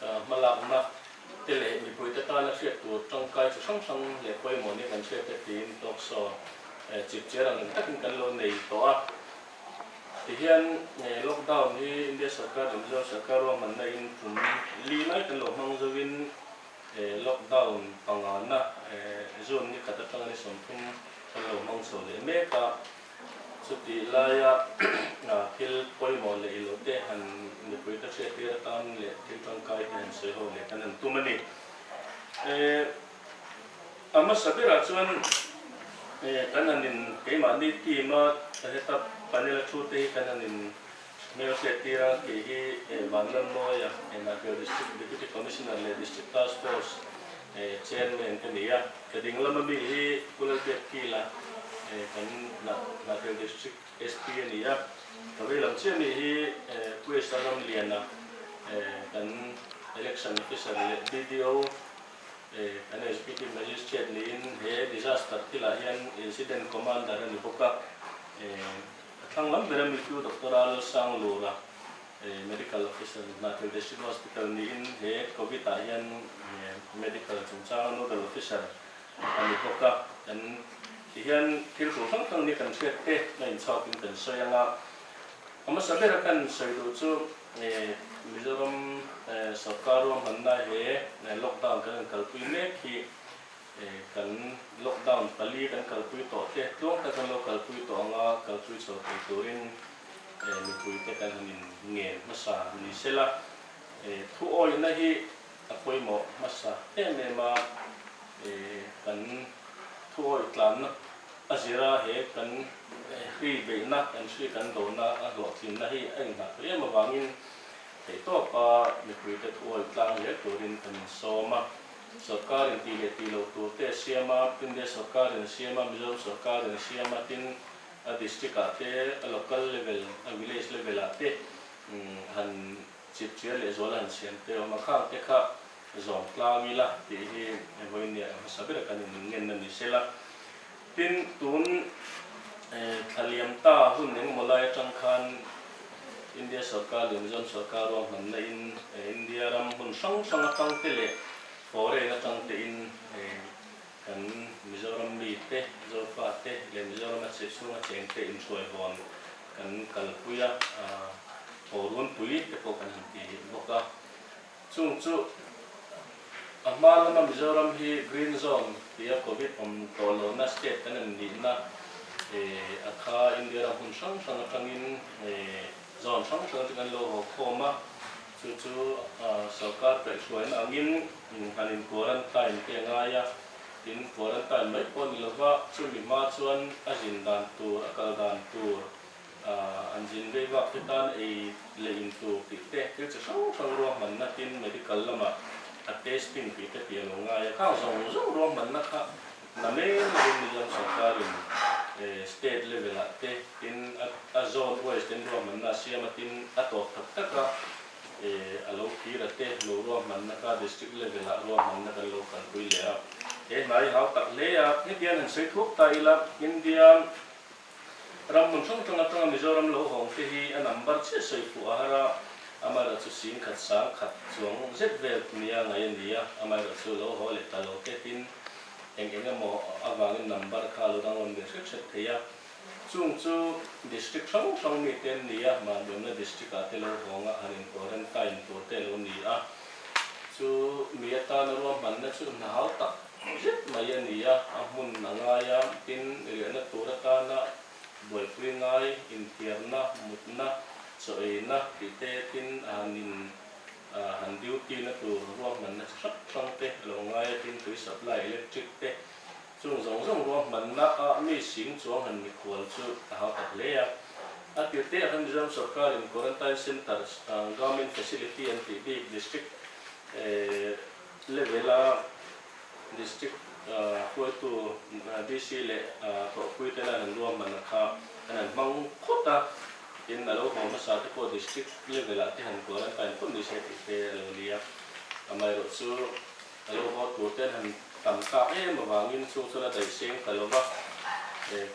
Hmalakna te leh mipuite tana hriat tur tangkai chi hrang hrang leh pawimawh ni kan hriat te tiin talk show chip chiar ang eng takin kan lo nei tawh a. Tihian lockdown hi India Sarkar leh Mizoram Sarkar ruahmanna in tum li mai kan lo hmang zo in lockdown panga na June ni khat atanga ni sawmthum kan lo hmang chho leh mek a. Chutih laia thil pawimawh leh ilo te han mipui ka hriattir a tang leh thil tangkai te han sawi ho leh kan han tum a ni. Eh a hmasa berah chuan eh kan han in keimahni team a heta panel a thu te hi kan han in Hmel hriat tirah kei hi Van Lam Noi a, Nahbel District Deputy Commissioner leh District Task Force Chairman a ni a, ka ding lama mi hi Kulalbiak Kil a, kan Nahbel District SP a ni a, ka vei lam chiah mi hi Pu Esa Ramlian a, kan Election Officer leh BDO, kan Executive Magistrate niin he Disaster Kil ah hian Incident Commander a ni bawk a. A thlang lam ber a Mittu Doctor-a Lalsanglura Medical Officer ni hna thil District Hospital niin he Covid-ah hian Medical chungchanga Nodal Officer a ni bawk a, kan ti hian thil tur hrang hrang ni kan hriat te a inchhuakin kan sawi ang a, a hmasa ber a kan sawi duh chu Mizoram Sorkar ruahmanna he Lockdown kan rawn kalpui mek hi, Kan lockdown pali kan kalpui tawh te tluang kha kan lo kalpui tawh ang a, kalpui chho thei turin mipuite kan han inngen hmasa ni se la, thu awihna hi a pawimawh hmasa em em a, kan thu awih tlanna a zira he kan hri beihna, kan hri kan dona a hlawhtlinna hi a inhnah theih em avangin theihtawpa mipuite thu awih tlang zel turin kan insawm a. Sawrkarin tih leh tih lo tur te a siam a, India sawrkarin a siam a, Mizoram sawrkarin a siam a, tin a district ah te, a local level, a village level ah te han chipchiar leh zuala han siam te awm a, khang te kha zawm tlang ila tih hi vawiin nih a hmasa ber a kan in ngen a ni sela. Tin, tun thla liam ta hun eng maw lai atang khan India sorkar leh Mizoram sorkar ruahmanna in India ram hun hrang hrang atang te leh foreign atang te in kan Mizoram mi te, Zopa te leh Mizoram a chhung a cheng te inhruai vawn kan kalpui a, thawh runpui te pawh kan han ti bawk a. Chung chu, a hma lama Mizoram hi Green Zone tia Covid awm tawh lohna state kan en nihna a kha India ram hun hrang hrang atangin zone hrang hrang te kan lo haw khawm a, chu chu sorkar perh hruaina angin han in quarantine te a ngai a, tin quarantine mai pawh ni lova chumi hma chuan a zin dan tur a kal dan tur, An zin vei bak te tan ei leh in tluk tih te thil chi hrang hrang ruahman na tin medical lama a testing tih te piah lo ngai a khang zo zo ruahman na kha na mel lovin Mizoram sawrkar in state level ah te tin a zone wise ten ruahman na a siam a tin a tawp tak tak a a lo phir a te lo ruahman na kha district level ah ruahman na kan lo kalpui leh a he hnai hau tak hle a hetian han sawi thup ta ila India Ram hmun hrang hrang atanga Mizoram lo hawng te hi a number chiah sawi fuh a har a, amaherawh chu sin khat sang khat chuang zet vel mi a ngaih a ni a, amaherawh chu lo haw leh ta lo tehin eng eng emaw avangin number kha a lo dang rawn ve hret hret thei a, chung chu district hrang hrang mi te an ni a, Mahniawmna district ah te lo hawng a, han in quarantine tur te lo ni a, chu mi atana ruahmanna chu hna hau tak. zet mai a ni a, a hmun a ngai a, tin, riahna tur atana buaipui ngai, inthiarna, mutna, chaw eina tih te tin a han in ahh han duty na tur ruahmanna chi hrang hrang te a lo ngai a, tin tui supply electric te chung zawng zawng ruahmanna a mi sing chuang han ni khual chu a hau tak hle a. A tir te ah khan Mizoram sawrkar in quarantine centre, garment facility an tih bik, district, ehh. Level a District hruaitu DC leh Hlawhpui ten an ruah hmanah kha an han hmang khawt a, tin a lo hawm hmasa te pawh District level ah te han kual an kain phawt nise tih te a lo ni a, amaherawh chu a lo haw tur te an han tam tlak em avangin chung chuan a daihseng ta lo a,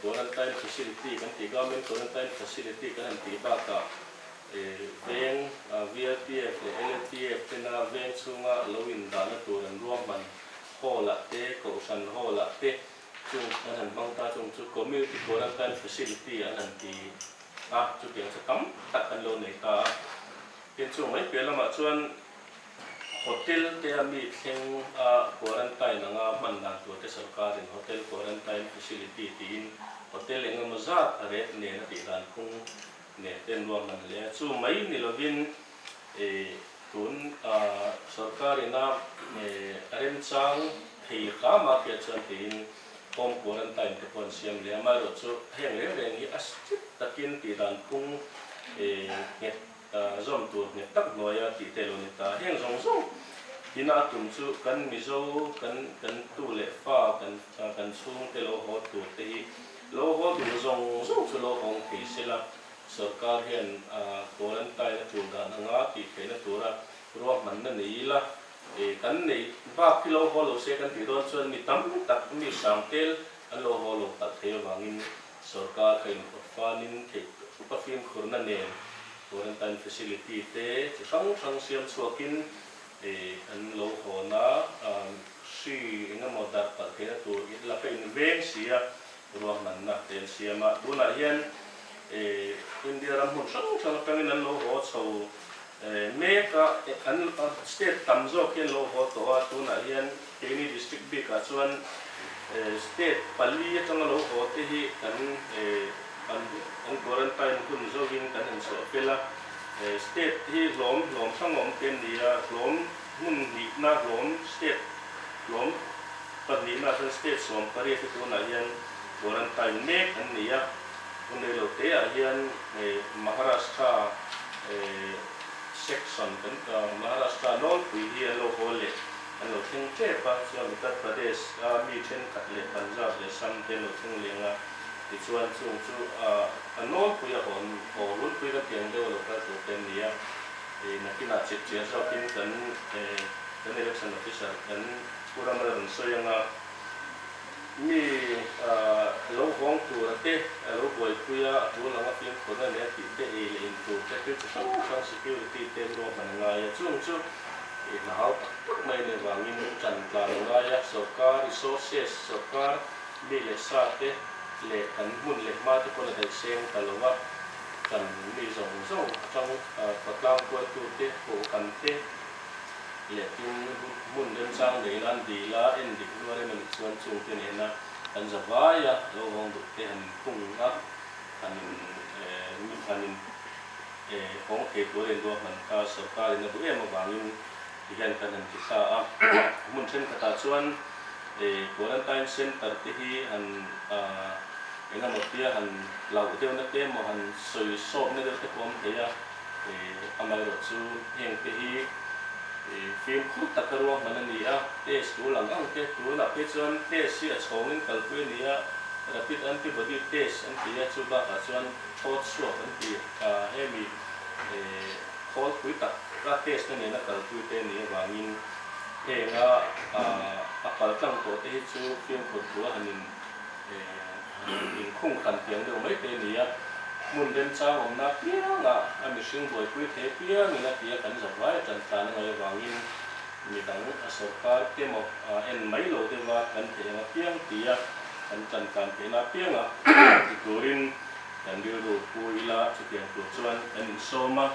Quarantine Facility kan tih Government Quarantine Facility kan han tih bakah, Veng VRTF leh LNTF tena veng chhunga a lo indahna tur an ruahman haw lah te, kohhran haw lah te chung an han hmang ta chung chu Community Quarantine Facility an han ti a, chutiang chu tam tak an lo nei ta a. Tin chung mai piah lamah chuan Hotel te a mi thleng a Quarantine anga hman dan tur te Sawrkarin Hotel Quarantine Facility tiin Hotel engemaw zat a ret nen a tih dan phung Nek ten ruak ngan le a chu mai ni lovin e tun a sorkar in a e a remchang thei hlâ mah khi a chuan tih in form quarantine te pawh an siam leh a mai rawh chu a heng reng reng hi a strict tak in tih dan phung e nghet a zawm tur nghet tak hnuai a tih te lo ni ta a heng zawng zawng in a tum chu kan mizo kan kan tu leh fa kan kan chhung te lo haw tur te hi Lohawl duh zawng zawng chu lohawng thei se la, sorkar hian quarantine a tul dan ang a tih theihna tura ruahmanna nei ila, eh kan neih bak hi lohawl lo se kan tih dawn chuan mi tam tak mi hrang tel an lohawl lo palh thei avangin sorkar kha inpawt fanin theih thup a fimkhurna nen quarantine facility te chi hrang hrang siam chhuakin te an lo hawn a, hri engemaw dar palh theihna tur in la paint ve si a, ruahmanna te an siam a, tunah hian India ram hmun hrang hrang atangin an lo haw chho mek a, an state tam zawk hi an lo haw tawh a, tunah hian. Keini district bikah chuan state pali atanga lo haw te hi kan kan quarantine hun zawngin kan inchhuah pel a, state hi hlawm hlawm hrang awm te an ni a, hlawm hmun hnihna hlawm state hlawm pahnihna chuan state sawm pariat te tunah hian quarantine mek an ni a, vawlei lo te ah hian Maharashtra section kan Maharashtra nawlpui hi an lo haw leh. An lo thleng tep a, chuan Uttar Pradesh a mi thenkhat leh Punjab leh Assam te an lo thleng leng a, tichuan chung chu a nawlpui a hawn haw runpui lam hian deuh a lo kal tur te an ni a, nakinah chhipchhiah zawkin kan election officer kan Puramal a rawn sawi anga. Mi lo vawng tura te, lo buaipui a, a pu lang a ping khun a nia tih te ei leh in tur te thil chi hrang hrang security te an lo han ngai a chung chu i hla hau tak tak mai nen vangin tan tlan a ngai a, sorkar resources sorkar mi leh sa te leh kan hmun leh hma te pawn a daih seng ta lo a, kan mi zawng zawng atang khawtlang kual tu te, kohhkan te. leh tin hmun remchang nei nan dei la en dik luar em anih chuan chungte nena kan za vai a, lo vawng duk te han phung a, han in eh han in eh hawng thei tur a in ruak dan kha sorkar in a duh em avangin ti hian kan han ti thla a. Hmun thenkhatah chuan eh quarantine centre te hi han ah engemaw tia han hlauh deuhna te emaw han sawi sawpna deuh te pawh awm thei a, Amah erawh chu heng te hi fim khur tak ka ruah hman a ni a, pace tu lang ang te, tunah phei chuan pace hi a chhawngin kalpui a ni a, rapid antibody pace an ti a, chu bakah chuan thawt chhuak an ti a, hemi khawlpui tak a pace-na nena kalpui te nih avangin heng a a kal tlang tawh te hi chu fimkhur tur a han in. Hei in khung kan piang deuh mai te nia, hmun remchang awmna piangah a mihring buaipui thei piangin a tia kan zawt vai a tantlan a ngaih avangin mi dang a sorkar te maw en mai lo deuha kan theih ang apiang tia kan tantlan theihna apianga ti turin kan rilru pu ila chutiang tur chuan kan insawm a.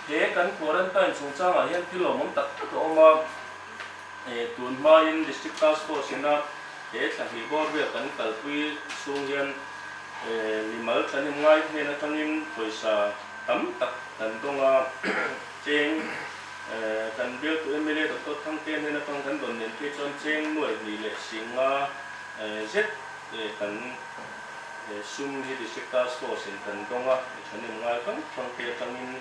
He kan quarantine chungchangah hian thil awmawm tak tak a awm a. Tun hmain District Task Force-ina he thla hnih bawr vel kan kalpui chhung hian mi mal tlanem ngai hnen atangin pawisa tam tak kan dawng a, cheng kan bialtu mla Doctor Thangte hnen atang kan rawn nen phei chuan cheng nuai hnih leh sing nga zet kan sum hi District Task Force-in kan dawng a, mi thlanem ngai fang fangte atangin.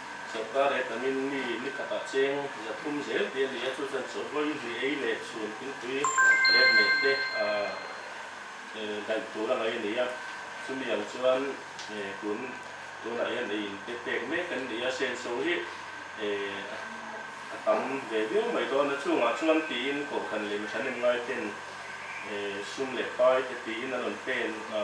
Sawrkar leh Tamil mi ni khatah cheng zathum zel te a ni a, chu chuan chawlhawih ri ei leh chhun thingpui leh hmeh te daih tur a ngaih a ni a, chumi ang chuan tun tunah hian ei in pek pek mek an ni a, Senso hi a tam ve viau mai dawn a, chungah chuan tiin kohhran leh mi thahnem ngaite'n sum leh pai te tiin an rawn pen a.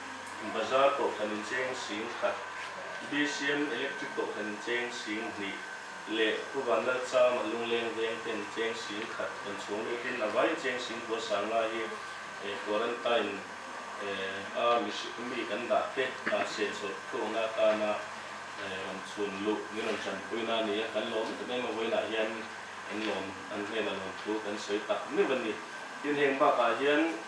Bazar tawhthlan incheng sing khat, BCM Electric tawhthlan incheng sing hnih leh Khuvan Lalcham a lungleng veng te incheng sing khat rawn chhawng lut in a vai incheng sing bua sang ngai hi Quarantine a mi kan dah te hnah seh chawlh thuang na tan a rawn chhun luh min rawn chan pui na nia kan lawm em em a vawiin ah hian an lawm an hnen a lawm thu kan sawi tak meuh a ni tin heng bak ah hian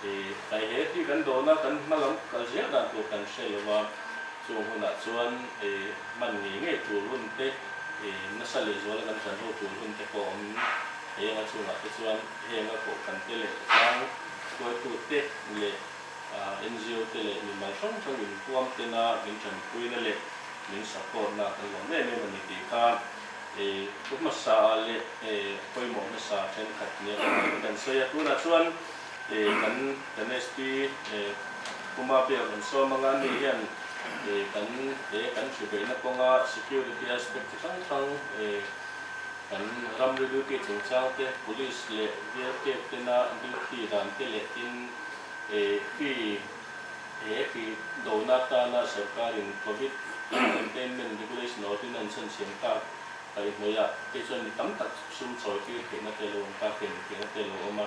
I kai hle tih kan dawn a, kan hma lam kal zel dan tur kan hre lo va, chung hunah chuan i hman ngei ngei tur hun te, i nasa lehzuala kan zan ho tur hun te pawh awm heng a chungah te chuan heng a kohhkan te leh tlang hruaitu te leh NGO te leh mi mal hrang hrang in puam te na min tanpui na leh min support na kan lawm em em a ni tih kha i pu hmasa ah leh i pawimawh hmasa ah thenkhat ni a kan sawi a tunah chuan Kan NST puma pek an sawm anga ni hian kan he kan thubeihna kawnga security aspect chi hrang hrang kan ram ri duty chungchang te, police leh biakek tena duty dan te leh tin fee he fee dona atana sawrkarin covid containment regulation ordinance an chhan siam tak paihnawiha te chuan mi tam tak sum chawihtir theihna te lo awm tak, thlen theihna te lo awm a.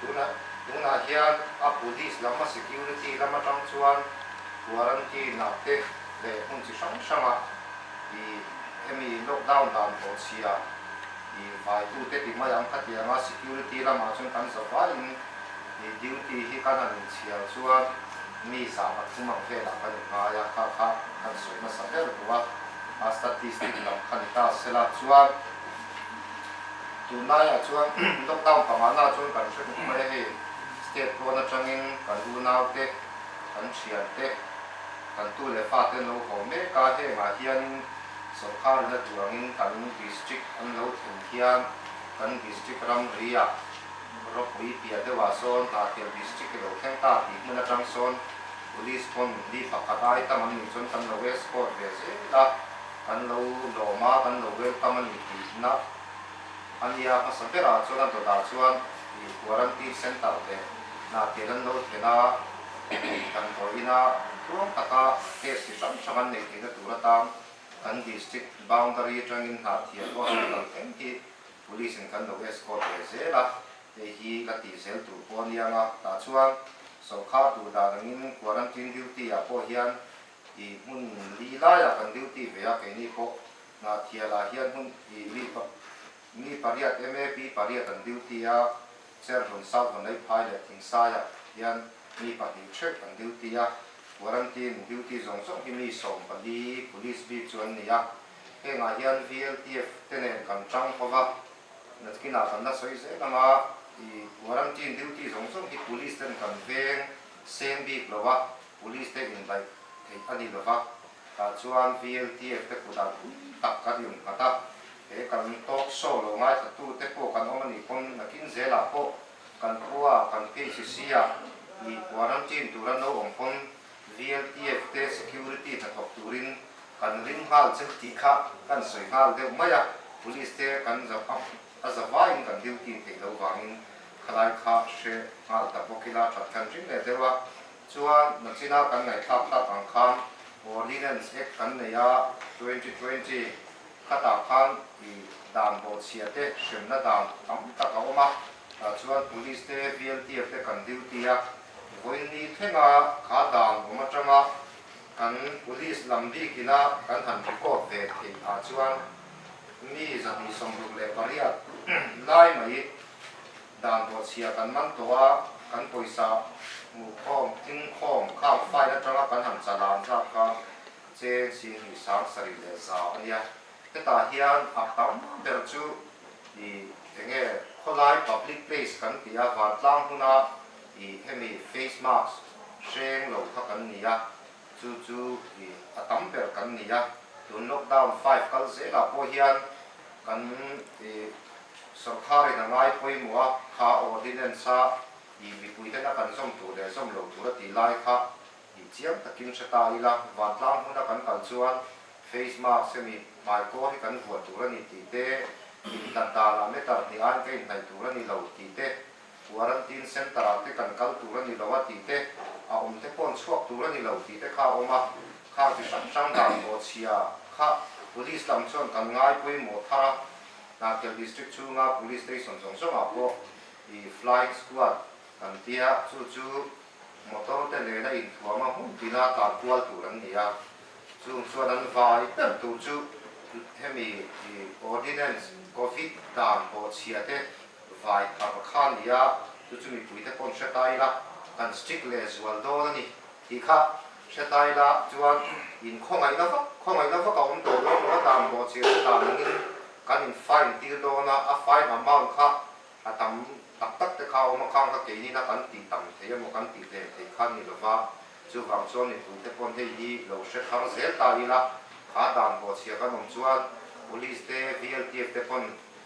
Tunah, tunah hian a Buddhist lama security lam atang chuan quarantine nak te leh hmun chi hrang hranga ih hemi lockdown dan tawh chhia ih vaitute timai ang kha tianga security lamah chuan kan zavaiin ih duty hi kan han inchhiar chuan mi zah pathum ang velah kan inngai a kha kha kan sawi nasa ber bawk a, a statistic lam kha ni ta sela chuan. Tun laiah chuan lockdown pangahna chuan kan hre bawk mai a ni. State pawn atangin kan unaute, kan thiante, kan tu leh fate an lo hawm mek a, hengah hianin sawrkharin a duangin kan district an lo thlen hian kan district ramria Rawpui piah deuhah sawn Hnahthiam district ilo thleng ta tih hmun atang sawn police pawn mi pakhat a ai tam an nih chuan kan lo escort ve zel a. Kan lo lawm a, kan lo welcome a ni tihna a nia. Hmasa berah chuan a dawtah chuan ih quarantine centre leh hnahtial an lo thleng a, ih kan hawi ina thuthlawm taka case chi hrang hrang an nei theihna tur atang kan district boundary atangin Hnahtial Hospital keng hi Police in kan lo escort ve zel a, hei hi ka tih zel tur pawh a nia nga. Tah chuan sawrkar duh dan angin quarantine duty-ah pawh hian I hmun li laia kan duty ve a keini pawh Hnahthial ah hian hmun i mi pa mi pariat MAP pariat an duty a, Chervun South Vaneiphai leh Thingsai ah hian mi pahnih theuh an duty a, Quarantine duty zawng zawng hi mi sawm pali Police bik chu an ni a, hengah hian VLTF te nen kan tang hova Natkinah kan la sawi zel ang a, i Quarantine duty zawng zawng hi Police ten kan veng seng bik lo a, Police te indaih theih a ni lo va, tah chuan VLTF te kut ah pui tak kan rawn nghat a, he kan talk show lo ngaithla tu te pawh kan awm a nih pawn nakin zel ah pawh kan khua a, kan PHC a i quarantine tur an lo awm pawn VLTF te security hnathawk turin kan ring nghal che tih kha kan sawi nghal deuh mai a, Police te kan za a a za vai in kan duty theih lo vang in khalai kha hre nghal ta bawk ila that kan ring leh deuh a, Chuan nachina kan ngaihthlak hlat ang khan Ordinance Act kan nei a, twenty twenty, khatah khan i dan bawhchhiah te hremna dan tam tak a awm a, tah chuan Police te VLTF te kan duty a vawiin ni thlenga kha dan awm atanga kan Police lam bikina kan han record ve theih ah chuan mi zahnih sawmruk leh pariat lai mai Dan tawh chhia kan man tawh a, kan pawisa hmuh khawm, thing khawm khang fine atanga kan han chalan zap kha che Chin hnih sang sarih leh zau a nia. Hetah hian a tam ber chu i eng nge khawlai public place kan tih a, vantlang hmuna i hemi face mask hreng lo kha kan ni a, Chu chu hi a tam ber kan ni a, tun lockdown five kal zelah pawh hian kan ih sorkharin a ngai pawimawh a, kha awr hi nen sa ih mipui hena kan zawm tur leh zawm lo tur a tih lai kha ih chiang takin hre ta ila, vantlang hmuna kan kal chuan face mask hemi hmai kawr hi kan vuah tur a ni tih te, inhlat dan ah meter hnih aiin ka inhnaih tur a ni lo tih te. Quarantine centre-ah te kan kal tur a ni lo a tih te, a awm te pawh an chhuak tur a ni lo tih te kha a awm a, khang chi hrang hrang dan tawh chhia kha Police lam chuan kan ngai pawimawh thar a, Hnahthial District chhunga Police Station zawng zawngah pawh i Flying Squad kan ti a, chu chu motor te nen a inthuam a hmun tina tlan kual tur an ni a, chung chuan an vai ber tur chu hemi i Ordinance Covid dan tawh chhia te Vai thar kha a ni a, chu chu mipui te paw'n hre ta ila kan strict leh zual dawn a ni tih kha hre ta ila chuan in khawngaihna vak khawngaihna vak a awm tawh dawn lo a dan bawh chhiar te dan ang in kan in fine tir dawn a, a fine amount kha a tam tak tak te kha a awm a khang kha keinin a kan tih tam thei emaw kan tih hlen thei kha a ni lo va, chuvang chuan mipui te paw'n hei hi lo hre thar zel ta ila a dan bawh chhiar kan awm chuan police te VLTF te paw'n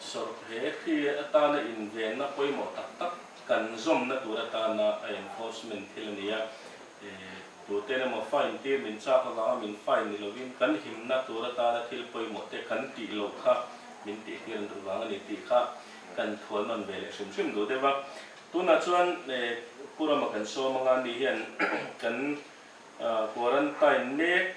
Sawrh he khi atana invenna pawimawh tak tak kan zawmna tur atana a enforcement thil a ni a, tuten emaw fine tir min chak avanga min fine ni lovin kan himna tur atana thil pawimawh te kan tih loh kha min tih hlir duh vang a ni tih kha kan thual nawn ve leh hrim hrim duh deuh a. Tunah chuan Purama kan sawm anga ni hian kan quarantine mek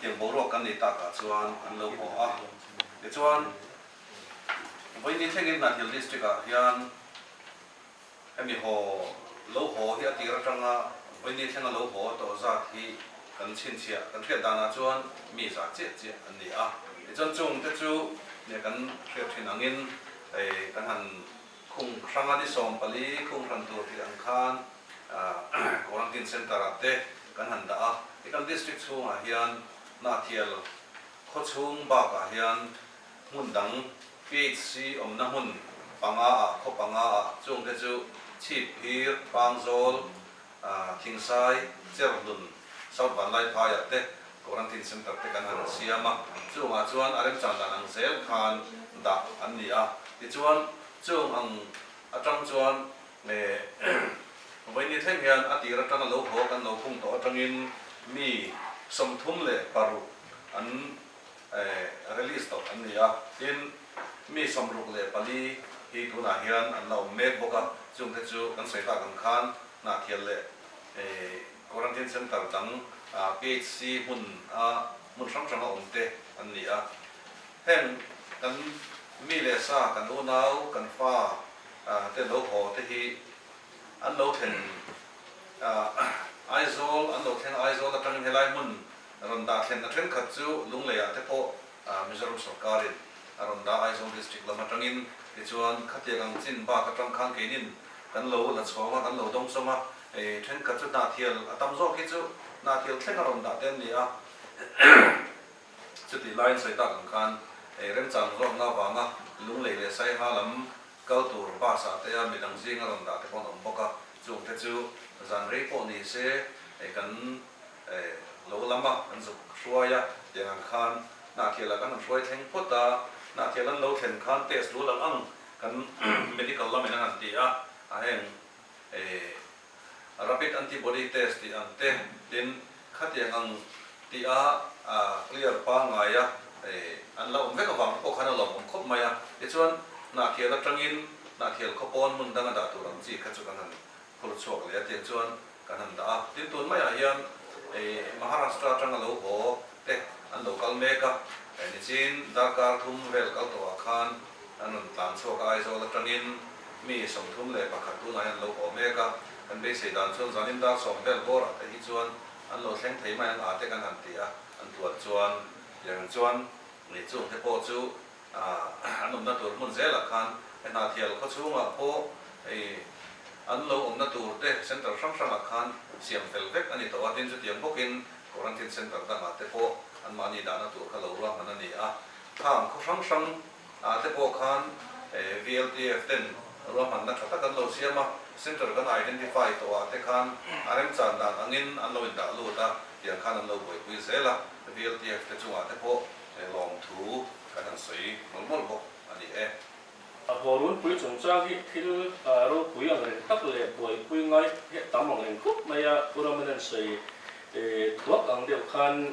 Tiang boruak kan nei tak ah chuan an lo haw a, tichuan vaini thlengin Hnathil District ah hian hemi haw lo haw hi a tir atang a, vaini thleng a lo haw tawh zat hi kan chhinchhiah kan hriat dan ah chuan mi za chiah chiah an ni a, tichuan chungte chu kan hriat thin angin kan han Khung hranga ni sawm pali khung hran tur hi ang khan Quarantine Centre ah te kan han dah a, i kan District chhungah hian Hnahthial khaw chhung bakah hian hmun dang PHC awmna hmun panga ah khaw panga ah chungte chu chhip hir, pangzawl, Khingsai, Chernun, South Vanlai Phaiah te Quarantine Centre te kan han siam a, chungah chuan a remchang dan ang zel khan dah an ni a. Tichuan, chung ang atang chuan vawinia thleng hian a tir atang a lo hawk an lo phung tawh atangin mi sawmthum leh paruk an release tawp an ni a, tin, mi samruk leh pali hi tunah hian an la awm mek bawk a, chung te chu kan sawi ta kan khan Hnahthial leh Quarantine Centre dang PHC hmun a hmun hrang hrang a awm te an ni a, heng kan mi leh sa, kan unau, kan fa te lo haw te hi an lo thlen Aizawl, an lo thleng Aizawl atangin helai hmun Rawn dah thlenna thenkhat chu Lungleiah te pawh Mizoram sawrkarin a rawn dah Aizawl district lam atangin. Tichuan, khatiang ang chin bak atang khan keinin kan lo la chhuang a, kan lo dawng sawm a. Thenkhat chu hnahthial a tam zawk hi chu hnahthial thleng a rawn dah te an ni a. Chutih laiin sawi tak ang khan remchang zawk nga vanga Lunglei leh Saiha lam kal tur bus ah te a midang zinga rawn dah te pawh an awm bawk a. Chungte chu zan rei pawh ni se kan Lo lam a, an zuk hruai a, tiang ang khan Hnahthial ah kan han hruai thleng phawt a, Hnahthial an lo thlen khan test dual ang ang kan medical lam in an han ti a, a heng Rapid antibody test tih ang te, tin khatiang ang tih a clear pa ngai a, an la awm vek avang te pawh khan a lawm awm khawp mai a, tichuan Hnahthial atangin Hnahthial khaw pawn hmun dang a dah tur ang chi kha chu kan han Phur chhuak leh a tiang chuan kan han dah a, tin tun maiah hian hei Maharashtra atanga lo haw te an lo kal mek a, nichin darkar thum vel kal tawhah khan an rawn tlan chhuak a, Aizawl atangin mi sawmthum leh pakhat tunah hian an lo haw mek a, kan beisei dan chuan zanin dar sawm vel bawrah te hi chuan an lo thleng thei mai ang a te kan han ti a, an tuan chuan. Tiang in chuan ngei chung te pawh chu An awmna tur hmun zelah khan hna thial khaw chhungah pawh an lo awmna tur te centre hrang hrangah khan siam fel vek a ni tawh a, tin chutiang bawkin quarantine centre dangah te pawh anmahni dahna tur kha lo ruahman a ni a, kham khaw hrang hrang ah te pawh khan VLTF ten ruahmanna tha tak an lo siam a, centre kan identify tawh ah te khan a remchan dan angin an lo indah lut a, tiang khan an lo buaipui zel a, VLTF te chungah te pawh He lawm thu kan han sawi mul mul bawk a ni e. A Bawrunpui chungchang hi thil ropui ang reng tak leh buaipui ngai heh tam ang reng khawp mai a, Pu Ramanan sawi thuak ang deuh khan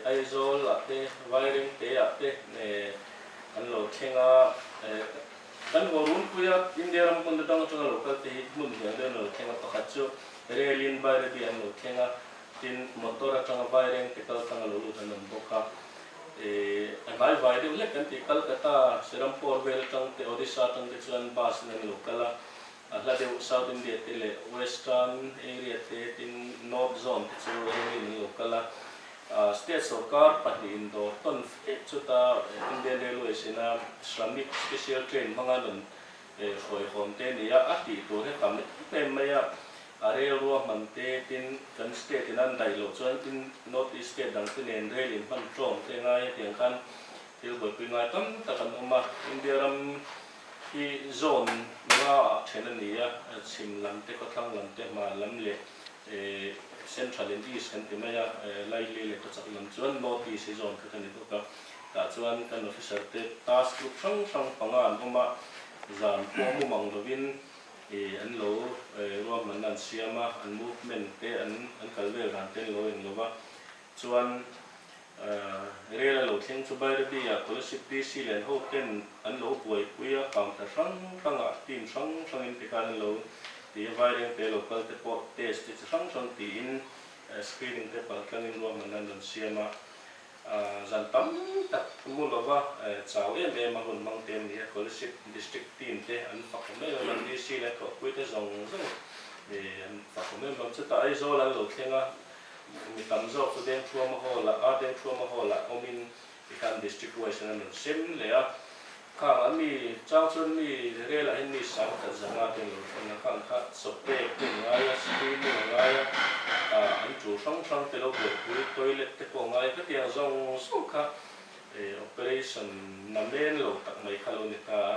Aizawlah te Vairengte ah te an lo thleng a, kan Bawrunpuia India ram hmun atang atanga local te hi hmun hniang deuhin an lo thleng a, pakhat chu Rel in Bairabi an lo thleng a, Tin, motor atanga vai reng te kal tanga lo lut an awm bawk a. Ehh, a hnai vai deuh hlek kan tih, Calcutta, Serampore vel atang te, Odisha atang te chuan bus in an lo kal a. A hla deuh South India te leh Western area te, tin North zone te chu railway in an lo kal a. Ahh, state sorkar pahnihin dawr tawn fek chuta Indian Railways ina Shramik Special Train hmanga nun, Ei hruaihawm te nia a tih tur hi tam em em mai a, a rel ruah hman te tin kan state in an daih loh chuan in north east state dang te nen rel in hman tawng te ngai a tiang khan thil buaipui ngai tam tak an awm a, India ram hi zone nga ah then a ni a, chhim lam te, khawthlang lam te, hman lam leh central and east kan ti mai a, likely leh ka chak lam chuan north east hi zone khat a ni bawk a. Tah chuan kan officer te task group hrang hrang panga an awm a, zan pawh mumang lovin ih an lo ruahmanna an siam a, an movement te an an kal vel dan te an lo en lo va. Chuan ih rel a lo thleng chu Bairabia College DC len ho ten an lo buaipui a, counter hrang hrangah team hrang hrangin tikhan an lo ti a, vaireng te lo kalte pawh test te chi hrang hrang tiin screening te palh tlangin ruahmanna an rawn siam a. Zan tam tak mu lova chau em em a hun mang te an ni a, Kolasib District team te an fakhawm em em a, DC leh thawhpui te zawng zawng an fakhawm em em a, chutah Aizawl an lo thleng a, mi tam zawk chu Dengthuama Hall-ah, Dengthuama Hall-ah awmin, tihian District wise-in an rawn sem leh a. Khang a mi chang chuan mi rel ahin mi sang that zanga te lo hran a, khang kha sawpek te an ngai a, school te an ngai a, ah an ṭu hrang hrang te lo buatpui, toilet te pawh a ngai khatiang zawng zawng kha eh operation namen lo tak mai kha lo ni ta a,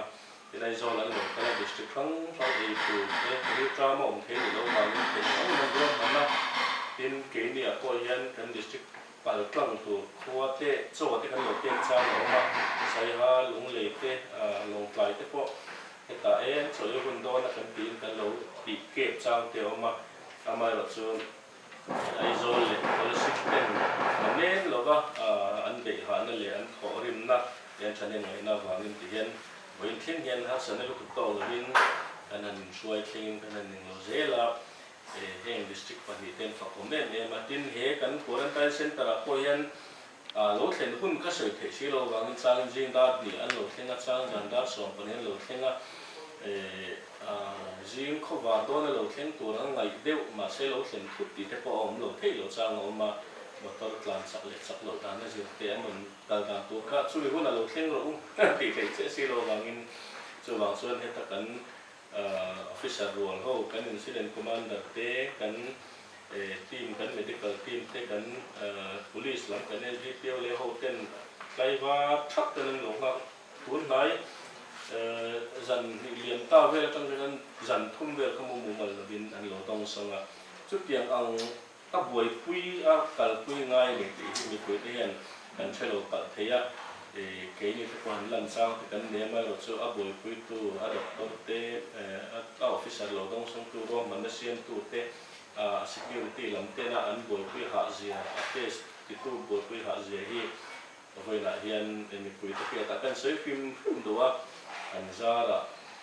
tin Aizawl an lo kal a, district hrang hrang ei tur te ri ṭam a awm theih ni lo vangin kei hrang hrang an ruahman a, tin keini ah pawh hian kan district. Pal tlang tur khua te, chaw te kan lo pek chang a awm a, Saiha, Lunglei te, Lawngtlai te pawh hetah eng chaw i hun dawn a kan tiin kan lo tih kep chang te a awm a, amaherawh chu Aizawl leh Kalaship ten hna men lova an beihahna leh an thawh rimna leh an thahnem ngaihna avangin ti hian vawiin thleng hian harsatna lutuk tawk lovin kan han inhruai thlengin kan han ning lo zel a. E, heng district pahnih ten fakawm em em a, tin he kan quarantine centre ah pawh hian ah lo thlen hun ka sawi theih si lo vangin changin zingdar hnih an lo thleng a, chang dan dar sawm pahnih an lo thleng a, e, ah zing khawvar dawna lo thleng tur an ngaih deuh mahse lo thlen phut tih te pawh a awm lo theih loh chang a awm a, motor tlan chak leh chak loh dana zir te an rawn kal dan tur kha chumi huna lo thleng rawh u tih theih chiah si lo vangin chuvang chuan heta kan Officer rual ho, kan Incident Commander te, kan team, kan medical team te, kan Police lam, kan LGPO leh ho ten tlaivar thap ten an lo nghak. Tunhnai zan hnih liam ta vel atang hian zan thum vel kha mumu mal lovin an lo dawngsawng a. Chutiang ang. Ka buaipui a kalpui ngai leh tih hi mipui te hian kan ṭhe lo palh thei a, keini te pawh han lanchang te kan nei mai erawh chu a buaipuitu, a doctor te, a officer lo dawng sawng tu, ruahman a siam tu te, a security lam tena an buaipui hahzia, a test ti tu buaipui hahzia hi, Ka vawiinah hian e mipui te pia tah kan sawi fim fim lo a, kan zar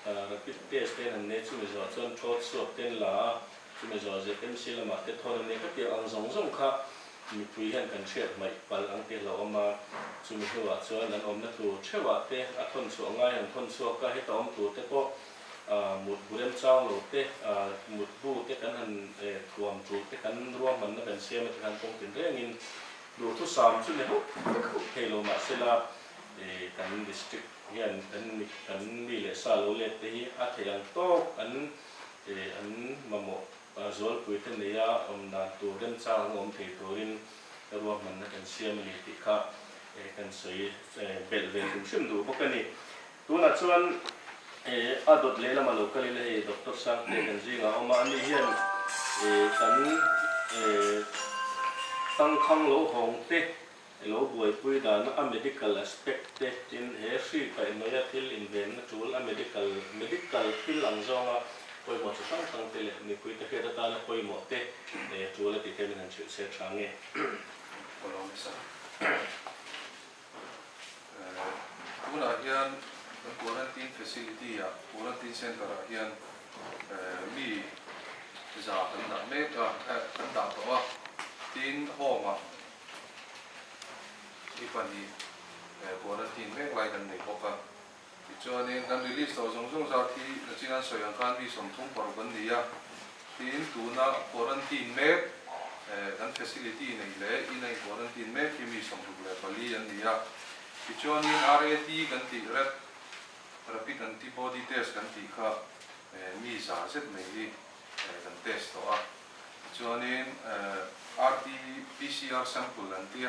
a rapid test te an han nei chumi zawh chuan thrawt suak te an la a, chumi zawh ZMC lamah te thawn an nei khawp tih ang zawng zawng kha mipui hian kan hriat hmaih pal ang teh lo awm a, chumi hnuah chuan an awmna tur theuhah te a thawn chhuah ngai han thawn chhuak a, heta awm tur te pawh mut bu remchang lo te, mut bu te kan han thuam tul te kan ruahmanna kan siam a tikhan kawng tin rengin. Duhthusam chu ni hauh hauh thei lo mahsela kan district hian kan mi leh sa lo let te hi a thei ang tawk an an mamawh zualpui te neia awm dan tur remchang anga awm thei turin ruahmanna kan siam a ni tih kha kan sawi belh ve hrim hrim duh bawk a ni. Tunah chuan a dawt leh lama lo kal in hei Doctor Sangte kan zing a awm a, ani hian kan tangkhang lo hawng te, lo buaipui dan a medical aspect te tin he hri paih mai a thil invenna tul a medical medical thil ang zawng a pawimawh chi hrang hrang te leh mipui te hriat atan a pawimawh te tul a tih te min han chhilhchhiat tha nge. Tunah hian quarantine facility ah, quarantine centre ah hian mi za kan dah mek a, kan dah tawh a. Tin, home ah mi pahnih quarantine mek lai kan nei bawk a. Tichuanin, kan release tawh zawng zawng zat hi nachin an sawi ang khan mi sawmthum paruk an ni a. Tin, tuna quarantine mek eh kan facility nei leh in a in quarantine mek hi mi sawmruk leh pali an ni a. Tichuanin, RAT kan tih rep, Rapid Antibody Test, kan tih kha eh mi za zet mai hi eh kan test tawh a. Tichuanin eh RT PCR sample an tia.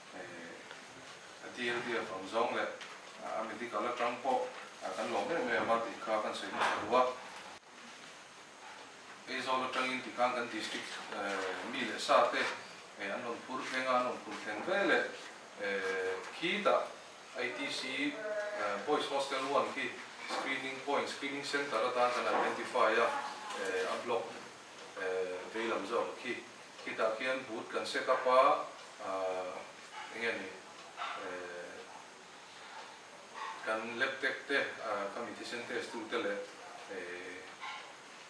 Hei a tl biak ang zawng leh a medical atang pawh kan lawm em em a tih kha kan sawi hmasa duh a. Aizawl atangin ti khan kan district mi leh sa te an rawn phur thleng a, an rawn phur thleng ve leh khitah ITC Boys Hostel one khi screening point, screening centre atan kan identify a, a block. vei lam zawk khi khitah khian but kan set up a, eng nge ni, kan lab tech te, khami thisen test tu te leh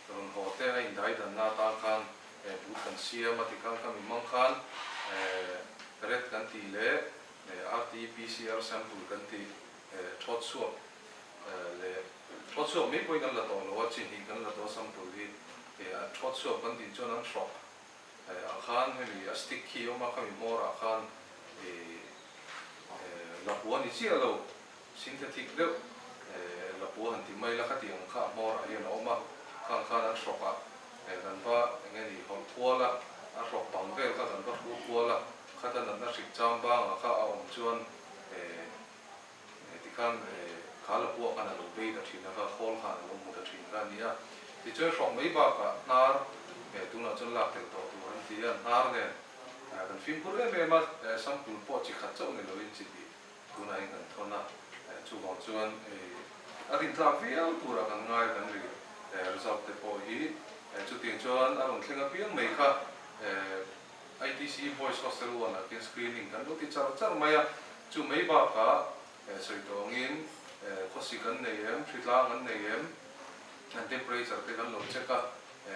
rawn haw te a indai dan na tan khan but kan siam a ti khan khami hmang khan ret kan tih leh RT PCR sample kan tih chhuat suap. leh thawchhuak mai pawhin an la tawh lo a, che hnih kan la tawh a sam tur hi eh a thawchhuak kan tih chuan an hrawh eh ang khan hemi a stick khi awm a kha mi mawr ah khan eh eh la pua ni chiah lo synthetic deuh eh la pua han ti mai la kha ti ang kha a mawr ah hian a awm a kha ang khan an hrawk ah eh kan va eng e ni hawlh kual a a hrawk bang vel kha kan va hru kual a khata natna hrik cham bang ah kha a awm chuan eh Nge tikhan he kha la puak khan a lo bei ta thin a, kha khawl khan a lo hmu ta thin kha a ni a. Tichuan hrawng mai bakah hnar nge tunah chuan lak tel tawh tur an ti a, hnar nge kan fimkhur em em a sample pawh chi khat chauh ni loin chi tih tunah in kan thawn a, chuvang chuan a rin tlak viau turah kan ngai kan ri, result te pawh hi chutin chuan a rawn thleng apiang mai kha. ITC Boys Hostel one ah khin screening kan lo ti char char mai a, chu mai bakah sawi tawngin khawsik an nei em, ṭhi tlang an nei em, an temperature te kan lo check a,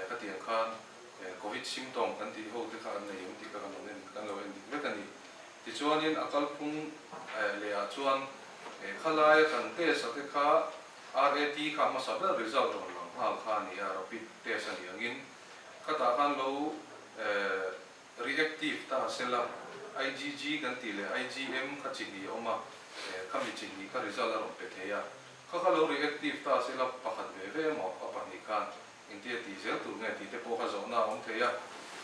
khatiang khan Covid symptom kan tih ho te kha an nei em tih kha kan lo en dik vek a ni. Tichuanin a kalphung leh ah chuan he khalaia kan test a te kha RAT kha hmasa ber result rawn lang nghal kha a ni a, rapid test a ni angin, Khatah khan lo eh reactive ta a sela, IgG kan tih leh IgM kha chihnih a awm a, eh kha mi chihnih kha result a rawn pe thei a. Kha kha lo reactive ta a sela pakhat ve ve emaw a pahnih khan entir tih zel tur nge tihte pawh kha zawhna a awm thei a.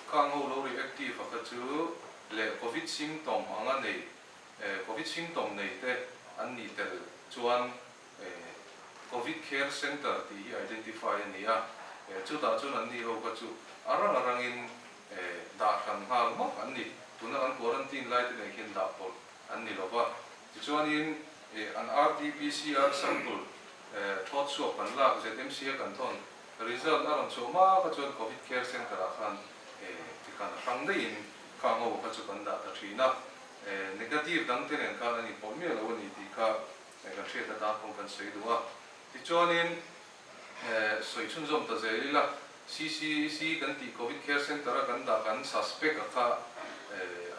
Kha ang ho lo reactive a kha chu leh Covid symptom anga nei eh Covid symptom neite an nih tel chuan, Covid Care Centre tih hi identify a ni a, chutah chuan an ni ho kha chu a rang a rangin dah hran nghal mak an ni. Tuna kan quarantine lai te nen khian dah pawlh an ni lo va. Tichuanin an rt pcr sample thlawt chhuak kan lak ZMCA kan thawn, result a rawn chhuah mak a chuan Covid Care Centre ah khan tikhan a hrang daihin kha ango kha chu kan dah ta thin a, negative dang te nen khan a ni pawlh miah lo a ni tih kha Hei kan hriat na tan pawh kan sawi duh a. Tichuanin sawi chhun zawm ta zel ila, CCEC kan tih Covid Care Centre a kan dah kan suspect a kha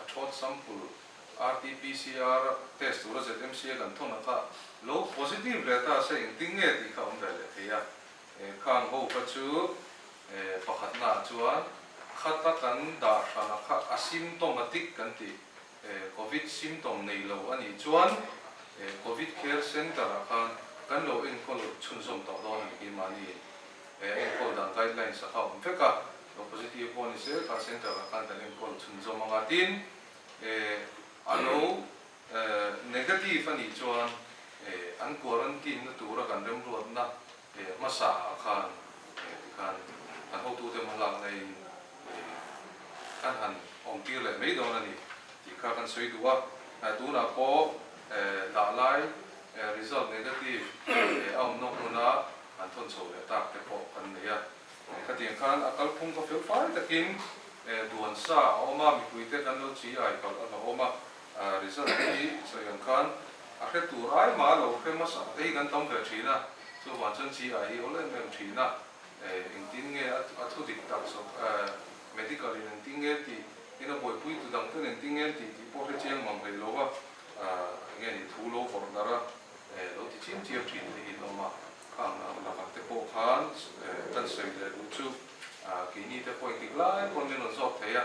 a thawt sample RT PCR test tura ZMC a kan thawn a kha lo positive leh ta se engtin nge tih kha awm ve leh thei a. Khang ho kha chu pakhatnaah chuan khat a kan dah hran a kha asymptomatic kan tih Covid symptom nei lo a nih chuan Covid Care Centre ah khan kan lo enkawl chhunzawm tawh dawn a ni, keimahni enkawl dan guidelines a kha awm vek a, lo positive pawh a ni se kha centre ah khan kan enkawl chhunzawm ang a, tin a lo negative a nih chuan an quarantine na tura kan remruatna Eng hmasa a khan eng ti khan an hotu te hma lak nai in ih khan han awm tir leh mai dawn a ni tih kha kan sawi duh a, eh tunah pawh eh dah lai eh result negative eh a awmnawk hmuna an thawn chho leh tak te pawh kan nei a, eh khatiang khan a kalphung ka feu fai takin eh duan sa a awm a mipui te kan lo chi ai palh a ka awm a. Result hi sawi ang khan a hre tur ai mah a lo hre hmasa ei kan tam ve thin a, chuvang chuan GI hi awl em em thin a, engtin nge a thu dik tak sawk a, medical in engtin nge an tih, tin a buaipui tu dang ten engtin nge an tih tih pawh a hre chiang mang ve lo va, enge ni thu lo vawrh darh a lo ti chim chiam thin te hi an awm a, kha ang ang lakah te pawh khan kan sawi leh duh chu keini te pawh enghik lai pawh an rawn zawk thei a,